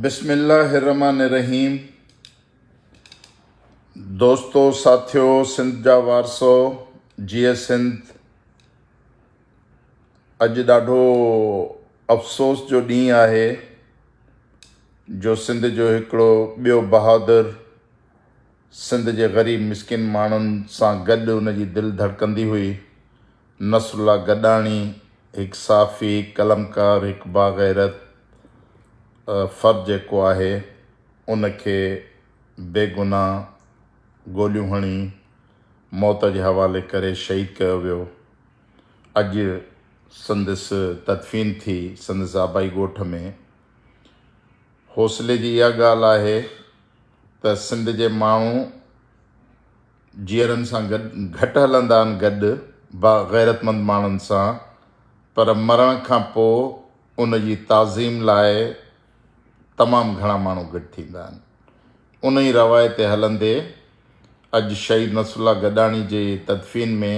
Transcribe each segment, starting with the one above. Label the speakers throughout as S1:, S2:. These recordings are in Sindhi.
S1: بسم الله الرحمٰن الرحيم دوستو ساٿيو سنڌ جا وارثو جيئي سنڌ اڄ ڏاڍو افسوس جو ڏينهن آهي جو سنڌ جو هڪڙو ٻيو بهادر سنڌ جي غريب مسڪين ماڻهن سان گڏ ان جي دل ڌڙڪندي هئي. نصرالله گڏاڻي هڪ صحافي، هڪ قلمڪار، هڪ باغيرت فرد جيڪو آهي ان کي بيگناهه گوليون هڻي موت جي حوالي ڪري شهيد ڪيو ويو. اڄ سندس تدفين ٿي سندس آبائي ڳوٺ ۾. حوصلي جي اها ڳالهه آهي. ته سنڌ جي ماڻهو جيئرن سان گڏ گهٽ هلندا آهن گڏ با غيرتمند ماڻهن سان پر مرڻ کان پوء ان جي تعظيم لاء تمام گهڻا ماڻهو گڏ ٿيندا آهن ان ئي روايت تي هلندي اڄ شهيد نصر الله گڏاڻي جي تدفين ۾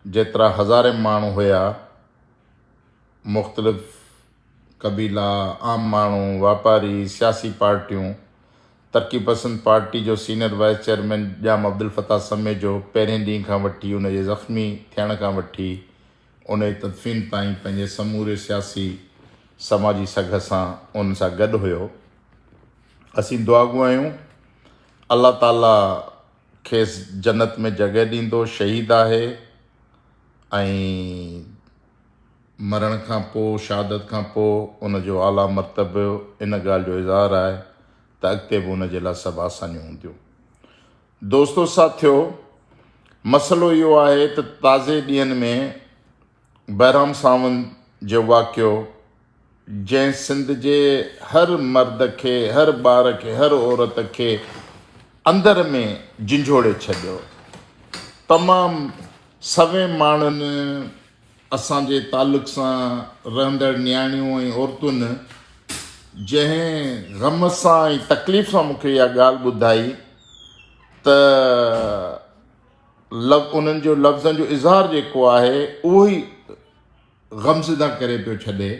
S1: جيترا هزارين ماڻهو هيا مختلف قبيلا، عام ماڻهو، واپاري، سياسي پارٽيون، ترقي پسند پارٽي جو senior vice chairman Jam Abdulfattah Samejo پهرين ڏينهن کان وٺي ان جي زخمي ٿيڻ کان وٺي ان جي تدفين تائين پنهنجي سموري سياسي سماجي سگهه سان انهن سان گڏ هيو. اسين دعاگو آهيون الله تعالي کيس جنت ۾ جڳهه ڏيندو شهيد آهي ۽ مرڻ کان پوء، شهادت کان پوء، ان جو اعليٰ مرتبو ان ڳالهه جو اظهار آهي ته اڳتي به ان جي لاء سڀ آسانيون هونديون. دوستو ساٿيو! مسئلو اهو آهي ته تازي ڏينهن ۾ بهرام ساوند جو واقعو، جنهن سنڌ جي هر مرد کي، هر ٻار کي، هر عورت کي اندر ۾ جنجهوڙي ڇڏيو. تمام سوين ماڻهن اسان جي تعلق سان رهندڙ نياڻيون ۽ عورتن جنهن غم سان ۽ تڪليف سان مون کي اها ڳالهه ٻڌائي ته انهن جو لفظن جو اظهار جيڪو آهي اهو ئي غمزده ڪري پيو ڇڏي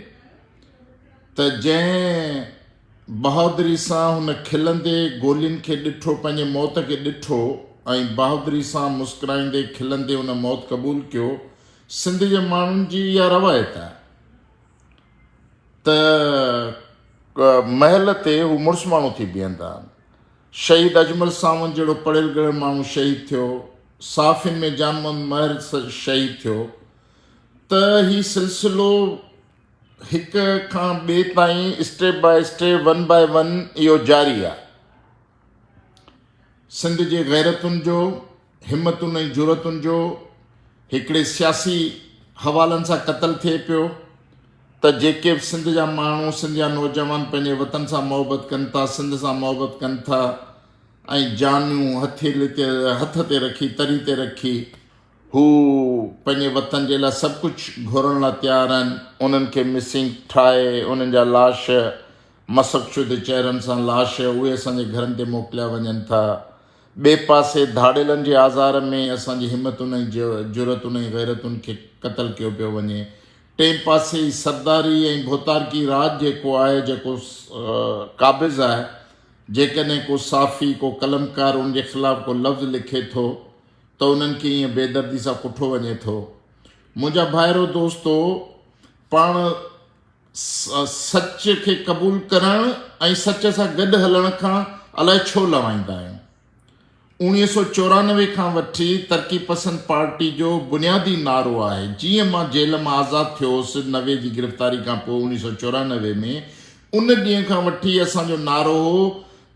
S1: ته جنهن بهادري سان هن کلندي گولين کي ڏٺو، پنهنجي موت کي ڏٺو ۽ بهادري سان مسڪرائيندي کلندي ان موت قبول ڪيو، سنڌ جي ماڻهن جي اها روايت آهي ته محل تي هو مڙس ماڻهو ٿي بيهندا آهن. شهيد اجمل ساوند جهڙو پڙهيل ڳڙهيل ماڻهو شهيد ٿيو، صحافين ۾ جان محمد مهر شهيد ٿيو، ته هي سلسلو هڪ کان ٻئي تائين step by step one by one اهو جاري آ. سنڌ جي غيرتن جو، همتن ۽ جرئتن جو هڪڙي سياسي حوالن سان قتل ٿئي پيو ته جيڪي به سنڌ جا ماڻهو، سنڌ جا نوجوان پنهنجي وطن سان محبت ڪن ٿا، سنڌ سان محبت ڪن ٿا ۽ جانيون هٿ تي رکي، تري تي رکي، هو پنهنجي وطن جي لاء سڀ ڪجهه گهورڻ لاء تيار آهن، انهن کي مسنگ ٺاهي انهن جا لاش مسخ شده چهرن سان لاش اهي اسان جي گهرن تي موڪليا وڃن ٿا، ٻئي پاسي ڌاڙيلن جي آزار ۾ اسان جي همتن ۽ جرئتن ۽ غيرتن کي قتل ڪيو پيو وڃي، ٽئين پاسي هي سرداري ۽ ڀوتارڪي راڄ جيڪو آهي جيڪو قابض آهي، جيڪڏهن ڪو صحافي ڪو قلمڪار ان جي خلاف ڪو لفظ لکي ٿو. ته انهن کي ائين بيدردي سان ڪٺو وڃي ٿو. منهنجا ڀائرو دوستو! پاڻ سچ کي قبول ڪرڻ ۽ سچ سان گڏ هلڻ کان الائي ڇو لوائيندا آهيون. اوڻيهه سؤ چورانوي کان وٺي ترقي پسند پارٽي جو بنيادي نعرو آهي. جيئن مان جيل مان آزاد ٿيو هوس نوي جي گرفتاري کان پوء اوڻيهه سؤ چورانوي ۾ ان ڏينهن کان وٺي اسان جو نعرو هو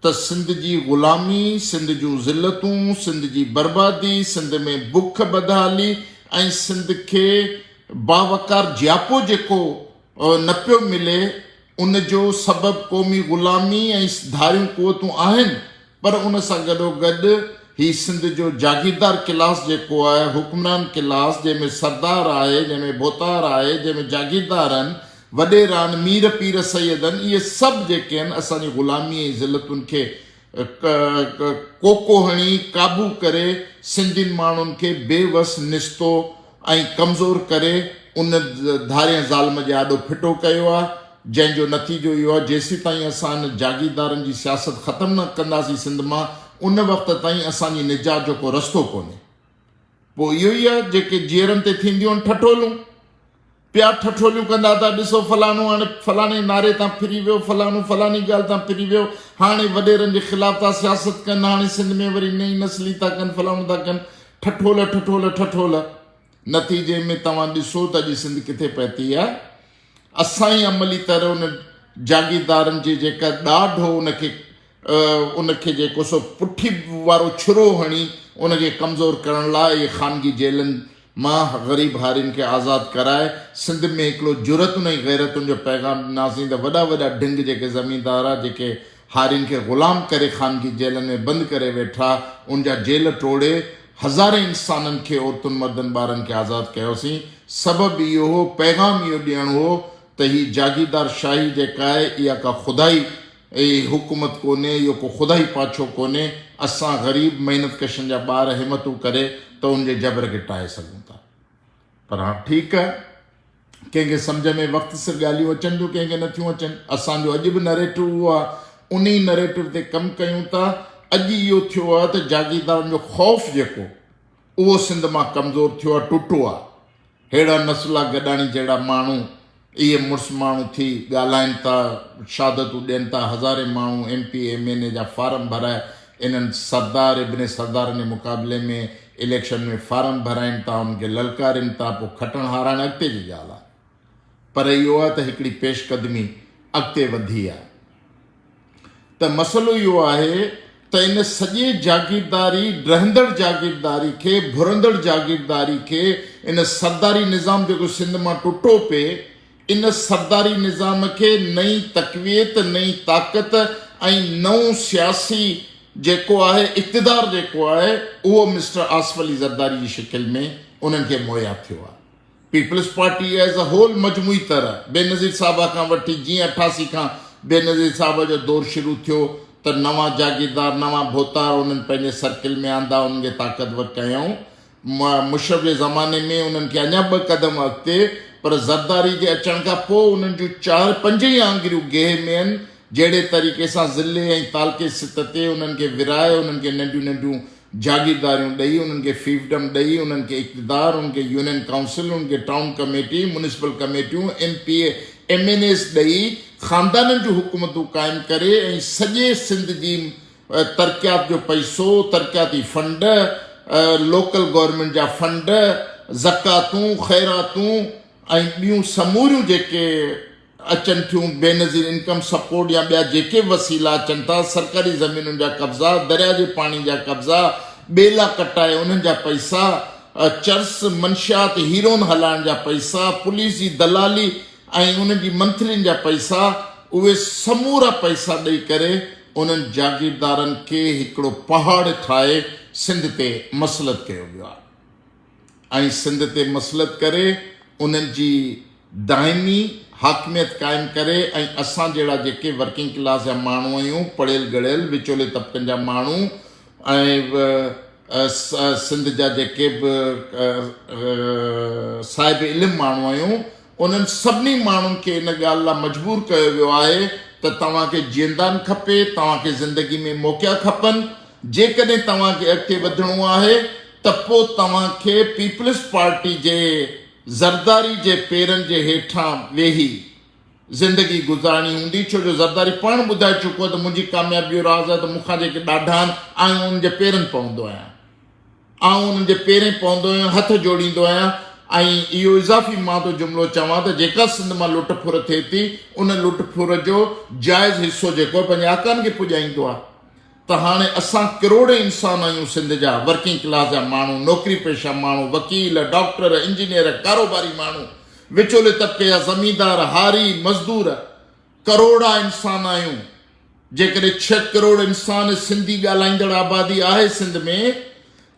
S1: ته سنڌ جي غلامي، سنڌ جون ذلتون، سنڌ جي بربادي، سنڌ ۾ بک بدحالي ۽ سنڌ کي باوقار جياپو جيڪو نه پيو ملي ان جو سبب قومي غلامي ۽ ڌاريون قوتون آهن پر ان سان گڏوگڏ هي سنڌ جو جاگيردار ڪلاس جيڪو آهي حڪمران ڪلاس جنهن ۾ سردار آهي جنهن ۾ ڀوتار آهي جنهن ۾ جاگيردار آهن وڏيران، مير پير سيدن، اهي سڀ جيڪي آهن اسان جي غلامي ۽ ذلتن کي ڪوڪو هڻي، قابو ڪري، سنڌين ماڻهن کي بي وس، نستو ۽ ڪمزور ڪري ان ڌارئين ظالم جي آڏو ڦٽو ڪيو آهي، جنهن جو نتيجو اهو آهي جيسيتائين اسان ان جاگيردارن جي سياست ختم نه ڪنداسين سنڌ مان ان وقت تائين اسان جي نجات جو ڪو رستو ڪونهي. پوء اهو ئي آهي جيڪي جيئرن تي ٿينديون آهن ٺٺولون. پيا ٺٺوليون ڪندا ته ڏسو فلاڻو هاڻي فلاڻي نعري تان ڦري ويو، فلاڻو فلاڻي ڳالهه تان ڦري ويو، هاڻي وڏيرن جي خلاف ٿا سياست ڪن، هاڻي سنڌ ۾ وري نئين نسلي ٿا ڪن، فلاڻو ٿا ڪن، ٺٺول ٺٺول ٺٺول. نتيجي ۾ توهان ڏسو ته اڄ سنڌ ڪٿي پهتي آهي. اسان ئي عملي طرح ان جاگيردارن جي جيڪا ڏاڍ هو ان کي ان کي جيڪو سو پٺي وارو ڇرو هڻي ان کي ڪمزور ڪرڻ لاء اهي خانگي جيلن مان غريب هارين کي آزاد ڪرائي سنڌ ۾ هڪڙو جرئتن ۽ غيرتن جو پيغام ڏناسين ته وڏا وڏا ڍنگ جيڪي زميندار جيڪي هارين کي غلام ڪري خانگي جيلن ۾ بند ڪري ويٺا ان جا جيل ٽوڙي هزارين انسانن کي عورتن مردن ٻارن کي آزاد ڪيوسين سبب اهو هو پيغام اهو ڏيڻ هو ته هي جاگيردار شاهي جيڪا آهي اها ڪا خدائي اي حڪومت ڪونهي اهو ڪو خدائي پاڇو ڪونهي اسان غريب محنت ڪشن جا ٻار همتون ڪري ته ان جي جبر کي ٽاهي سگهون ٿا پر ها ٺيڪ ڪنهن کي سمجهه ۾ وقت سر ڳالهيون اچن ٿيون ڪنهن کي نه ٿيون اچن اسان جو اڄ به نريٽو اهو آهي انهي نريٽو تي ڪم ڪيون ٿا اڄ اهو ٿيو آهي ته جاگيردارن جو خوف جيڪو اهو سنڌ مان ڪمزور ٿيو آ ٽٽو آ ههڙا نسلا گڏاڻي جهڙا ماڻهو اهي مڙس ماڻهو ٿي ڳالهائين ٿا شهادتون ڏين ٿا هزارين ماڻهو M P M N A جا فارم ڀرائي انهن سردار ابن سردارن جي مقابلي ۾ اليڪشن ۾ فارم ڀرائين ٿا انهن کي للڪارين ٿا پو کٽڻ هاراڻ اڳتي جي ڳالهه آ پر اهو آ ته هڪڙي پيش قدمي اڳتي وڌي آ. ته مسئلو اهو آهي ته ان سڄي جاگيرداري ڊهندڙ جاگيرداري کي ڀرندڙ جاگيرداري کي ان سرداري نظام جيڪو سنڌ مان ٽٽو پئي ان سرداري نظام کي نئين تقويت نئين طاقت ۽ نئون سياسي جيڪو آهي اقتدار جيڪو آهي اهو مسٽر آصف علي زرداري جي شڪل ۾ انهن کي مهيا ٿيو آهي peoples party as a whole مجموعي طرح بينظير صاحب کان وٺي جيئن اٺاسي کان بينظير صاحب جو دور شروع ٿيو ته نوان جاگيردار نوان ڀوتار انهن پنهنجي سرڪل ۾ آندا انهن کي طاقتور ڪيائون مشرف جي زماني ۾ انهن کي اڃا ٻه قدم اڳتي پر زرداري جي اچڻ کان پوء انهن جون چار پنج ئي آڱريون گيهه ۾ ان جهڙي طريقي سان ضلعي ۽ تعلقي سطح تي انهن کي ورهائي انهن کي ننڍيون ننڍيون جاگيرداريون ڏئي، انهن کي فيئفڊم ڏئي، انهن کي اقتدار، انهن کي يونين ڪائونسل، انهن کي ٽائون ڪميٽي، ميونسپل ڪميٽيون، M P A, M N As ڏئي، خاندانن جون حڪومتون قائم ڪري ۽ سڄي سنڌ جي ترقيات جو پئسو، ترقياتي فنڊ، لوڪل گورنمينٽ جا فنڊ، زڪواتون، خيراتون ۽ ٻيون سموريون جيڪي. اچن ٿيون، بينظير انڪم سپورٽ يا ٻيا جيڪي به وسيلا اچن ٿا، سرڪاري زمينن جا قبضا، درياء جي پاڻي جا قبضا، ٻيلا ڪٽائي انهن جا پئسا، چرس، منشيات، هيرون هلائڻ جا پئسا، پوليس جي دلالي ۽ انهن جي منٿلين جا پئسا، اهي سمورا پئسا ڏئي ڪري انهن جاگيردارن کي هڪڙو پهاڙ ٺاهي سنڌ تي مسلط ڪيو ويو آهي. ۽ سنڌ تي مسلط ڪري انهن جي دائمي حاڪميت قائم ڪري ۽ اسان جهڙا جيڪي ورڪنگ ڪلاس جا ماڻهو آهيون پڙهيل ڳڙهيل وچولي طبقن جا ماڻهو ۽ سنڌ جا جيڪي به صاحب علم ماڻهو آهيون انهن سڀني ماڻهن کي ان ڳالهه لا مجبور ڪيو ويو آهي ته توهان کي جيندان کپي، توهان کي زندگي ۾ موقعا کپن، جيڪڏهن توهان کي اڳتي وڌڻو آهي ته پو توهان کي پيپلز پارٽي جي زرداري جي پيرن جي هيٺان ويهي زندگي گذارڻي هوندي ڇو جو زرداري پاڻ ٻڌائي چڪو آهي ته منهنجي ڪاميابي جو راز آهي ته مون کان جيڪي ڏاڍا آهن آئون انهن جي پيرن پوندو آهيان. آئون انهن جي پيرين پوندو آهيان، هٿ جوڙيندو آهيان ۽ اهو اضافي مان ٿو جملو چوان ته جيڪا سنڌ مان لٽ ڦر ٿئي ٿي، ان لٽ ڦر جو جائز حصو جيڪو پنهنجي آقائن کي پڄائيندو آهي ته هاڻي اسان ڪروڙين انسان آهيون سنڌ جا، ورڪنگ ڪلاس جا ماڻهو، نوڪري پيشه ماڻهو، وڪيل، ڊاڪٽر، انجنيئر، ڪاروباري ماڻهو، وچولي طبقي جا زميندار، هاري، مزدور، ڪروڙا انسان آهيون جيڪڏهن ڇهه ڪروڙ انسان سنڌي ڳالهائيندڙ آبادي آهي سنڌ ۾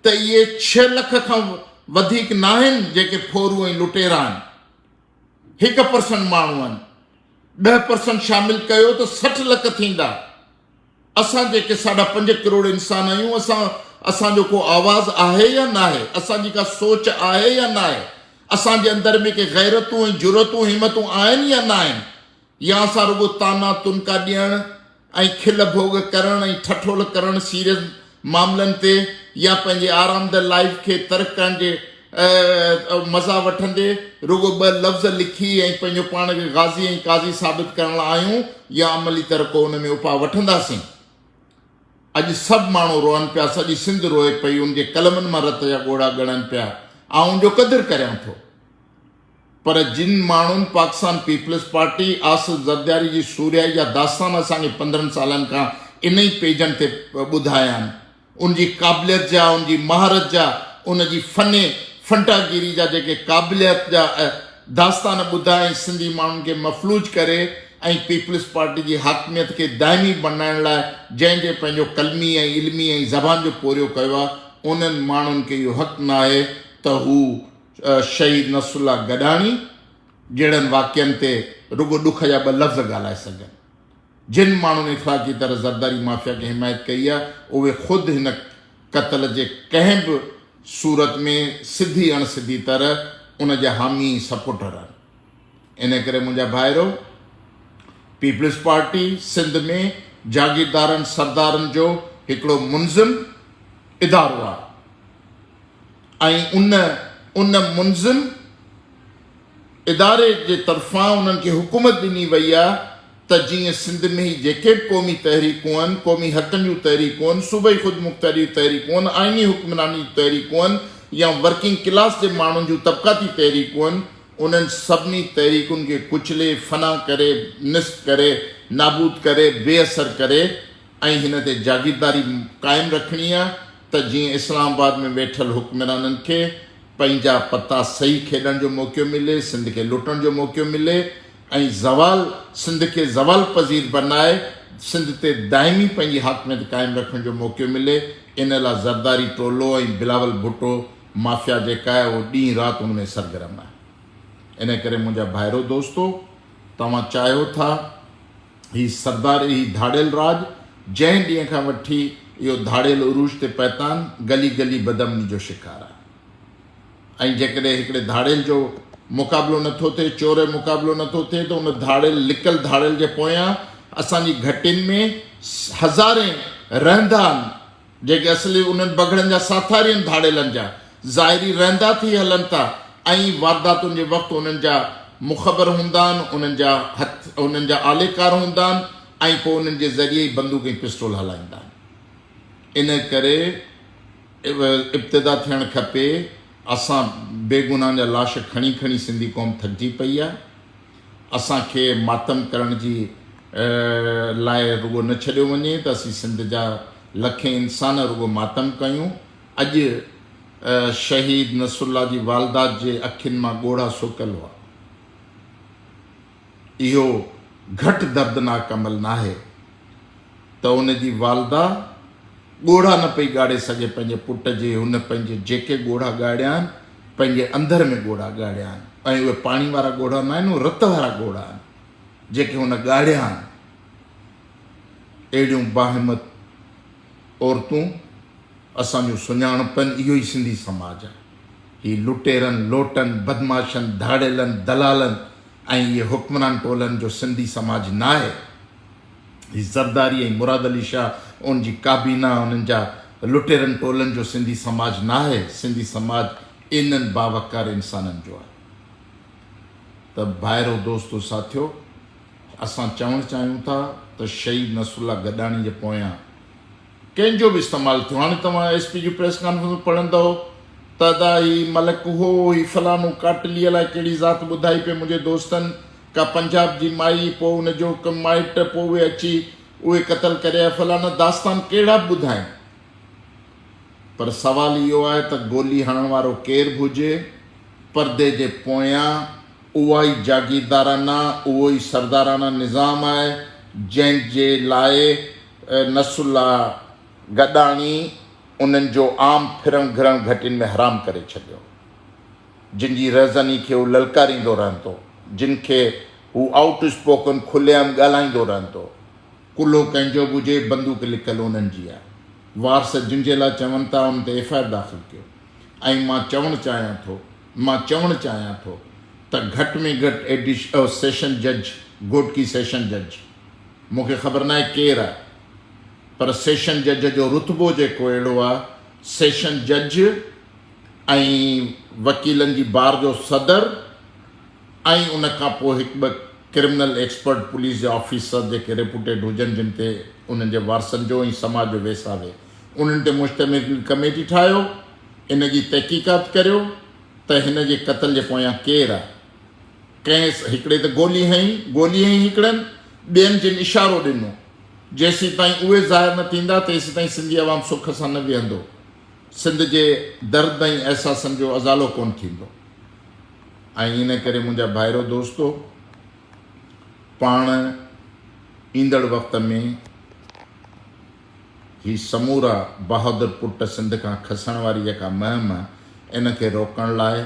S1: ته اهي ڇهه لک کان وڌيڪ ناهن جيڪي ڦورو ۽ لٽيرا آهن هڪ پرسنٽ ماڻهو آهن ڏهه پرسنٽ شامل ڪيو ته سٺ لک ٿيندا. اسان جيڪي ساڍا پنج ڪروڙ انسان آهيون اسان اسان جو ڪو آواز آهي يا ناهي اسان جي ڪا سوچ آهي يا ناهي اسان جي اندر ۾ ڪي غيرتون ۽ جرئتون همتون آهن يا ناهن يا اسان رڳو طعنا تنڪا ڏيڻ ۽ کل ڀوڳ ڪرڻ ۽ ٺٺول ڪرڻ سيريز معاملن تي يا پنهنجي آرامده لائيف کي ترڪ ڪرڻ جي مزا وٺندي رڳو ٻه لفظ لکي ۽ پنهنجو پاڻ کي غازي ۽ قاضي ثابت ڪرڻ لاء آيون يا عملي طرح ڪو ان ۾ اپاء وٺنداسين. اڄ سڀ ماڻهو روئن پيا، سڄي سنڌ روئي پئي، ان جي قلمن مان رت جا ڳوڙها ڳڻن پيا. آئون ان جو قدر ڪريان ٿو. پر جن ماڻهن پاڪستان پيپلز پارٽي، آصف زردياري جي سورهيائي جا داستان اسان کي پندرهن سالن کان انهي پيجن تي ٻڌايا آهن، ان جي قابليت جا، ان جي مهارت جا، ان جي فن فنٽا گيري جا جيڪي قابليت جا داستان ٻڌا ۽ سنڌي ماڻهن کي مفلوج ڪري ۽ پيپلز پارٽي جي حاڪميت کي دائمي بڻائڻ لاء جنهن جنهن پنهنجو قلمي ۽ علمي ۽ زبان جو پورهيو ڪيو آهي، انهن ماڻهن کي اهو حق ناهي ته هو شهيد نصرالله گڏاڻي جهڙن واقعن تي رڳو ڏک جا ٻه لفظ ڳالهائي سگهن. جن ماڻهن اخلاقي طرح زرداري مافيا کي حمايت ڪئي آهي، اهي خود هن قتل جي ڪنهن به صورت ۾ سڌي اڻ سڌي طرح ان جا حامي ۽ سپورٽر آهن. انهيء ڪري منهنجا ڀائرو! پيپلز پارٽي سنڌ ۾ جاگيردارن سردارن جو هڪڙو منظم ادارو آهي. ۽ ان ان منظم اداري جي طرفان انهن کي حڪومت ڏني وئي آهي ته جيئن سنڌ ۾ هي جيڪي به قومي تحريڪون آهن، قومي حقن جون تحريڪون آهن، صوبائي خودمختياري جون تحريڪون آهن، آئيني حڪمراني جون تحريڪون آهن يا ورڪنگ ڪلاس جي ماڻهن جون طبقاتي تحريڪون آهن، انهن سڀني تحريڪن کي ڪچلي، فنا ڪري، نست ڪري، نابود ڪري، بي اثر ڪري، ۽ هن تي جاگيرداري قائم رکڻي آهي ته جيئن اسلام آباد ۾ ويٺل حڪمرانن کي پنهنجا پتا صحيح کيڏڻ جو موقعو ملي، سنڌ کي لٽڻ جو موقعو ملي ۽ زوال سنڌ کي زوال پذير بنائي سنڌ تي دائمي پنهنجي حاڪميت قائم رکڻ جو موقعو ملي ان لا زرداري ٽولو ۽ بلاول ڀٽو مافيا جيڪا آهي اهو ڏينهن رات ان ۾ سرگرم آهي ان ڪري منهنجا ڀائرو دوستو توهان چاهيو ٿا هي سرداري هي ڌاڙيل راڄ جنهن ڏينهن کان وٺي اهو ڌاڙيل عروج تي پهتان گلي گلي بدامني جو شڪار آهي ۽ جيڪڏهن هڪڙي ڌاڙيل جو مقابلو نٿو ٿئي چوري مقابلو نٿو ٿئي ته ان ڌاڙيل لڪل ڌاڙيل جي پويان اسان جي گهٽين ۾ هزارين رهندا آهن جيڪي اصلي انهن بگهڙن جا ساٿارين ڌاڙيلن جا ظاهري رهندا ٿي هلن ٿا ۽ وارداتن جي وقت انهن جا مخبر هوندا آهن، انهن جا هٿ انهن جا آليڪار هوندا آهن ۽ پوء انهن جي ذريعي ئي بندوق ۽ پسٽول هلائيندا آهن. ان ڪري ابتدا ٿيڻ کپي اسان بيگناهن جا لاش کڻي کڻي سنڌي قوم ٿڪجي پئي آهي. اسان کي ماتم ڪرڻ جي لاء رڳو نه ڇڏيو وڃي ته اسين سنڌ جا لکين انسان رڳو ماتم ڪيون. اڄ شهيد نصرالله جي والده جي اکين مان ڳوڙها سوڪيل هئا. اهو گهٽ دردناڪ عمل ناهي. ته ان جي والده ڳوڙها نه پئي ڳاڙي سگهي پنهنجي پٽ جي، هن پنهنجي جيڪي ڳوڙها ڳاڙيا آهن، پنهنجي اندر ۾ ڳوڙها ڳاڙيا آهن ۽ اهي پاڻي وارا ڳوڙها نه آهن، اهي رت وارا ڳوڙها آهن، جيڪي هن ڳاڙيا آهن. اهڙيون باهمت عورتون اسان جو سڃاڻپن اهو ئي سنڌي سماج آهي. هي لٽيرن، لوٽن، بدمعاشن، ڌاڙيلن، دلالن ۽ اهي حڪمران ٽولن جو سنڌي سماج ناهي. هي زرداري ۽ مراد علي شاهه ان جي ڪابينا انهن جا لٽيرن ٽولن جو سنڌي سماج ناهي سنڌي سماج انهن باوقار انسانن جو آهي ته ڀائرو دوستو ساٿيو اسان چوڻ چاهيون ٿا ته شهيد نصرالله گڏاڻي جي پويان ڪنهن جو به استعمال ٿيو هاڻي توهان ايس پي جون پريس ڪانفرنسون پڙهندؤ ته ادا هي ملڪ هو هي فلانو ڪاٽلي الائي ڪهڙي ذات ٻڌائي پئي منهنجي دوستن ڪا پنجاب جي مائي پوء ان جو ڪو مائٽ پوء اهي اچي اهي قتل ڪري آيا فلانا داستان ڪهڙا به ٻڌائين پر سوال اهو آهي ته گولي هڻڻ وارو ڪير به هجي پردي جي پويان اها ئي جاگيردارانه اهو ئي سردارانه نظام آهي جنهن جي لاء نصر الله گڏاڻي انهن جو عام ڦرڻ گهرڻ گهٽين ۾ حرام ڪري ڇڏيو، جن جي رهزني کي هو للڪاريندو رهندو، جن کي هو آئوٽ اسپوڪن کلي عام ڳالهائيندو رهندو. ڪلهو ڪنهن جو به هجي، بندوق لڪل انهن جي آهي، وارث جن جي لاء چون ٿا، انهن تي ايف آء آر داخل ڪيو ۽ مان چوڻ چاهيان ٿو، مان چوڻ چاهيان ٿو ته گهٽ ۾ گهٽ ايڊيشنل سيشن جج، گهوٽڪي سيشن جج. مون کي خبر ناهي ڪير آ پر سيشن جج جو رتبو جيڪو اهڙو آ سيشن جج ۽ وڪيلن جي بار جو صدر ۽ ان کان پوء هڪ ٻه ڪرمنل ايڪسپرٽ پوليس جا آفيسر جيڪي ريپوٽيڊ هجن جن تي انهن جي وارثن جو ۽ سماج جو ويساهه انهن تي مشتمل ڪميٽي ٺاهيو ان جي تحقيقات ڪريو ته هن جي قتل جي پويان ڪير آ. ڪنهن هڪڙي تي گولي هنئي، گولي هنئي هڪڙن، ٻين جن اشارو ڏنو. جيسيتائين اهي ظاهر نه ٿيندا، تيسيتائين سنڌي عوام سک سان نه ويهندو. سنڌ جي درد ۽ احساسن جو ازالو ڪونه ٿيندو. ۽ ان ڪري منهنجا ڀائرو دوستو، پاڻ ايندڙ وقت ۾. هي سمورا بهادر پٽ سنڌ کان کسڻ واري جيڪا مهم ان کي روڪڻ لاء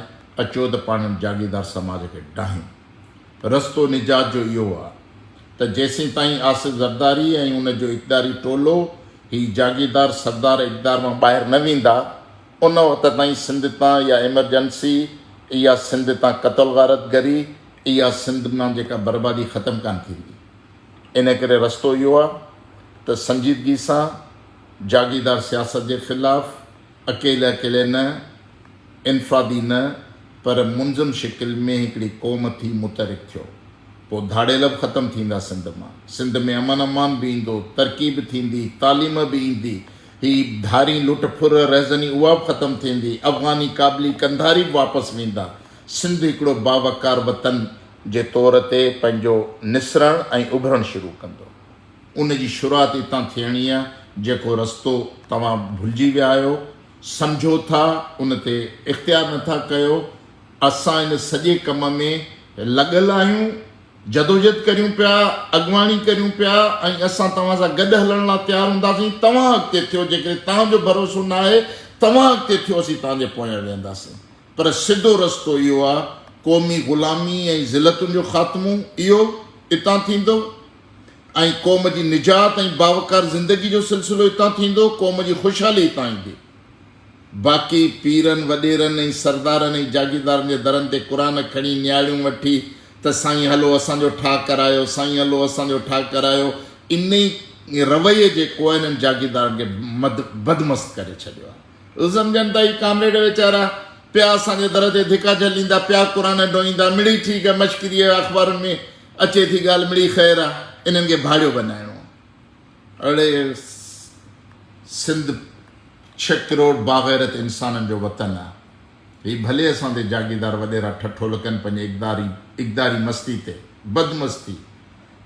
S1: اچو ته پاڻ ان جاگيردار سماج کي ڊاهيون. رستو نجات جو اهو آ ته جيسين تائين آصف زرداري ۽ ان جو اقداري ٽولو هي جاگيردار سردار اقدار مان ٻاهر نه ويندا ان وقت تائين سنڌ تان اها ايمرجنسي اها سنڌ تان قتل غارت گري اها سنڌ مان جيڪا بربادي ختم ڪانه ٿيندي. ان ڪري رستو اهو آهي ته سنجيدگي سان جاگيردار سياست جي خلاف اڪيلي اڪيلي نه، انفرادي نه پر منظم شڪل ۾ هڪڙي قوم ٿي متحرڪ ٿيو. پوء ڌاڙيل به ختم ٿيندا سنڌ مان. سنڌ ۾ امن امان به ايندو، ترقي به ٿيندي، تعليم به ايندي، هي ڌارين لٽ ڦر رهزني اها به ختم ٿيندي، افغاني، ڪابلي، قنڌاري به واپس ويندا، سنڌ هڪڙو باوقار وطن جي طور تي پنهنجو نسرڻ ۽ اڀرڻ شروع ڪندو. ان جي شروعات اتان ٿيڻي آهي، جيڪو رستو توهان ڀلجي ويا آهيو، سمجهو ٿا، ان تي اختيار نه ٿا ڪيو. اسان ان سڄي ڪم ۾ لڳل آهيون، جدوجهد ڪريون پيا، اڳواڻي ڪريون پيا ۽ اسان توهان سان گڏ هلڻ لاء تيار هونداسين، توهان اڳتي ٿيو، جيڪڏهن توهان جو ڀروسو نه آهي، توهان اڳتي ٿيو، اسين توهان جي پويان ويهنداسين. پر سڌو رستو اهو آ قومي غلامي ۽ ذلتن جو خاتمو اهو اتان ٿيندو ۽ قوم جي نجات ۽ باوقار زندگي جو سلسلو اتان ٿيندو قوم جي خوشحالي اتان ايندي باقي پيرن وڏيرن ۽ سردارن ۽ جاگيردارن جي درن تي قرآن کڻي نياڙيون وٺي ته سائين هلو اسان جو ٺاهه ڪرايو سائين هلو اسان جو ٺاهه ڪرايو انهي رويي جي ڪوهنن جاگيردارن کي بدمست ڪري ڇڏيو آ. هو سمجهن ته هي ڪامريڊ ويچارا پيا اسان جي در تي ڌڪا جهليندا، پيا قرآن ڊوهيندا، مڙئي ٺيڪ آهي، مشڪري آهي، اخبارن ۾ اچي ٿي ڳالهه، مڙئي خير آهي، انهن کي ڀاڙيو بنائڻو آهي. اڙي سنڌ ڇهه ڪروڙ باغيرت انسانن جو وطن آهي. هي ڀلي اسان تي جاگيردار وڏيرا ٺٺول ڪن پنهنجي اقداري اقداري مستي تي، بد مستي،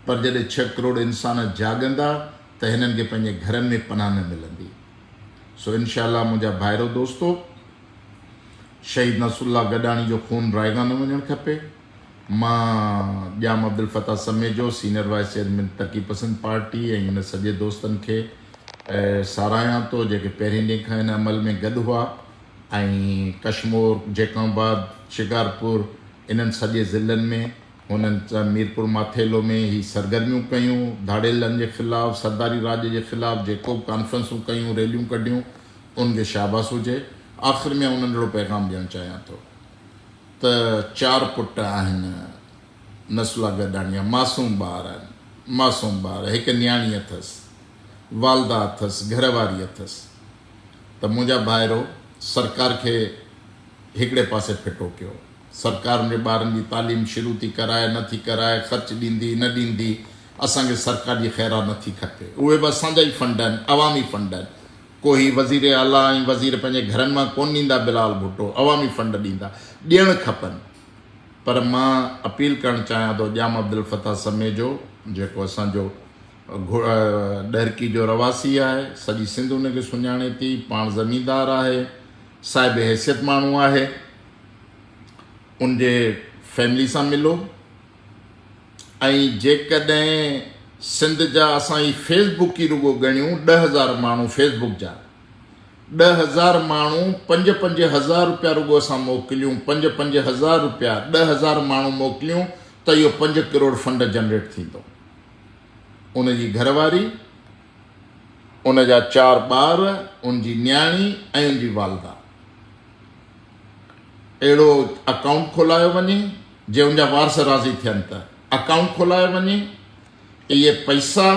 S1: پر جڏهن ڇهه ڪروڙ انسان جاڳندا ته هنن کي پنهنجي گهرن ۾ پناهه نه ملندي. سو انشاء الله منهنجا ڀائرو دوستو شهيد نصر الله گڏاڻي جو خون رائگان نه وڃڻ کپي مان Jam Abdulfattah Samejo senior vice chairman Taraqi Pasand party ۽ هن سڄي دوستن کي ساراهيان ٿو جيڪي پهرين ڏينهن کان هن عمل ۾ گڏ هئا ۽ ڪشمور جيڪم آباد شڪارپور انهن سڄي ضلعن ۾ هنن ميرپورماٿيلو ۾ هي سرگرميون ڪيون، ڌاڙيلن جي خلاف، سرداري راڄ جي خلاف جيڪو به ڪانفرنسون ڪيون، ريليون ڪڍيون، انهن کي شاباس هجي. آخر ۾ آئون انهن اهڙو پيغام ڏيڻ چاهيان ٿو ته چار پٽ آهن نسولا گڏاڻيا، معصوم ٻار آهن، معصوم ٻار، هڪ نياڻي اٿس، والده اٿس، گهر واري اٿس ته منهنجا ڀائرو سرڪار کي هڪڙي پاسي ڦٽو ڪيو. سرڪار ان جي ٻارن جي تعليم شروع ٿي ڪرائي نه ٿي ڪرائي، خرچ ڏيندي نه ڏيندي، اسان کي سرڪار جي خيرات نه ٿي کپي. اهي به اسان جا ئي فنڊ آهن، عوامي فنڊ آهن. ڪو هي وزير اعليٰ ۽ وزير پنهنجي گهرن مان ڪونه ڏيندا بلاول ڀٽو، عوامي فنڊ ڏيندا، ڏيڻ کپن. پر مان اپيل ڪرڻ چاهيان ٿو ڄام عبدالفتاح سميجو جيڪو اسان جو ڏهرڪي جو رهواسي آهي، سڄي سنڌ ان کي سڃاڻي ٿي، پاڻ زميندار آهي، صاحب حيثيت ماڻهو آهي ان جي فيملي سان ملو ۽ جيڪڏهن سنڌ جا اسان هي فيس بڪ ئي رڳو ڳڻيون ڏه هزار ماڻهو فيس بڪ جا ڏه هزار ماڻهو پنج پنج هزار روپيا رڳو اسان موڪليون پنج پنج هزار روپيا ڏه هزار ماڻهو موڪليون ته اهو پنج ڪروڙ فنڊ جنريٽ ٿيندو ان جي گهر واري ان جا چار ٻار، ان جي نياڻي ۽ ان جي والده. اهڙو اڪائونٽ کولايو وڃي، جي ان جا وارث راضي ٿين ته اڪائونٽ کولايو وڃي. اهي پئسا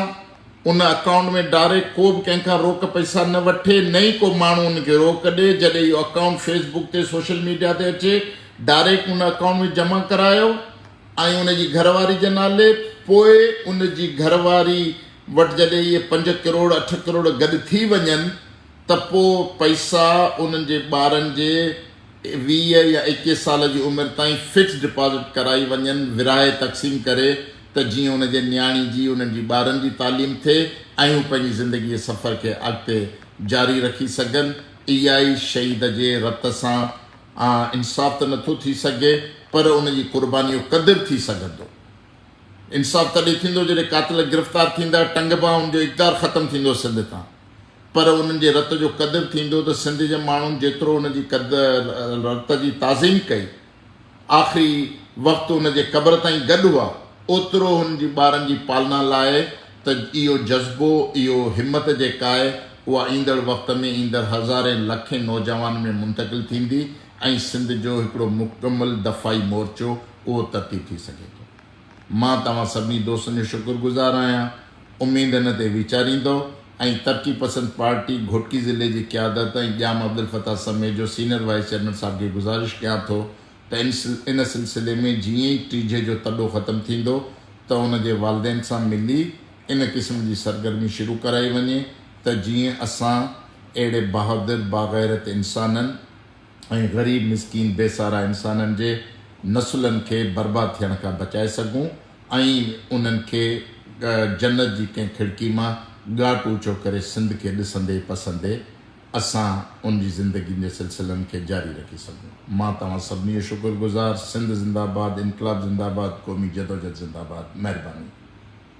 S1: ان اڪائونٽ ۾ ڊائريڪٽ ڪو به ڪنهن کان روڪ پئسا نه وٺي، نه ئي ڪو ماڻهو ان کي روڪ ڏئي. جڏهن اهو اڪائونٽ فيس بڪ تي سوشل ميڊيا تي اچي، ڊائريڪٽ ان اڪائونٽ ۾ جمع ڪرايو ۽ ان جي گهر واري جي نالي، پوء ان جي گهر واري وٽ جڏهن اهي پنج ڪروڙ اٺ ڪروڙ گڏ ٿي وڃن ته پوء پئسا انهن جي ٻارن جي ويهه يا ايڪيهه سال جي عمر تائين فڪس ڊپازٽ ڪرائي وڃن ورهائي تقسيم ڪري ته جيئن ان جي نياڻي جي انهن جي ٻارن جي تعليم ٿئي ۽ هو پنهنجي زندگي جي سفر کي اڳتي جاري رکي سگهن اها ئي شهيد جي رت سان انصاف ته نٿو ٿي سگهي پر ان جي قرباني جو قدر ٿي سگهندو. انصاف تڏهن ٿيندو جڏهن قاتل گرفتار ٿيندا ٽنگبا ان جو اقدار ختم ٿيندو سنڌ تان پر انهن جي رت جو قدر ٿيندو ته سنڌ جي ماڻهن جيترو ان جي رت جي تعظيم ڪئي آخري وقت ان جي قبر تائين گڏ هئا اوترو هن جي ٻارن جي پالنا لاء ته اهو جذبو اهو همت جيڪا آهي اها ايندڙ وقت ۾ ايندڙ هزارين لکين نوجوانن ۾ منتقل ٿيندي ۽ سنڌ جو هڪڙو مڪمل دفاعي مورچو اهو ترتيب ٿي سگهي ٿو. مان توهان سڀني دوستن جو شڪر گذار آهيان، اميد ان تي ويچاريندؤ ۽ ترقي پسند پارٽي گهوٽڪي ضلعي جي قيادت ۽ ڄام عبدالفتاح سميت جو سينئر وائيس چيئرمين صاحب کي گذارش ڪيان ٿو ته ان سلسلي ۾ جيئن ئي ٽيجهي جو تڏو ختم ٿيندو ته ان جي والدين سان ملي ان قسم جي سرگرمي شروع ڪرائي وڃي ته جيئن اسان اهڙي بهادر باغيرت انسانن ۽ غريب مسڪين بي سارا انسانن جي نسلن کي برباد ٿيڻ کان بچائي سگهون ۽ انهن کي جنت جي ڪنهن کڙڪي مان ڳاٽ اوچو ڪري سنڌ کي ڏسندي پسندي اسان ان جي زندگين جي سلسلن کي جاري رکي سگهون مان توهان سڀني جو شڪر گذار سنڌ زنده آباد انقلاب زنده آباد قومي جدوجھد زنده آباد مهرباني.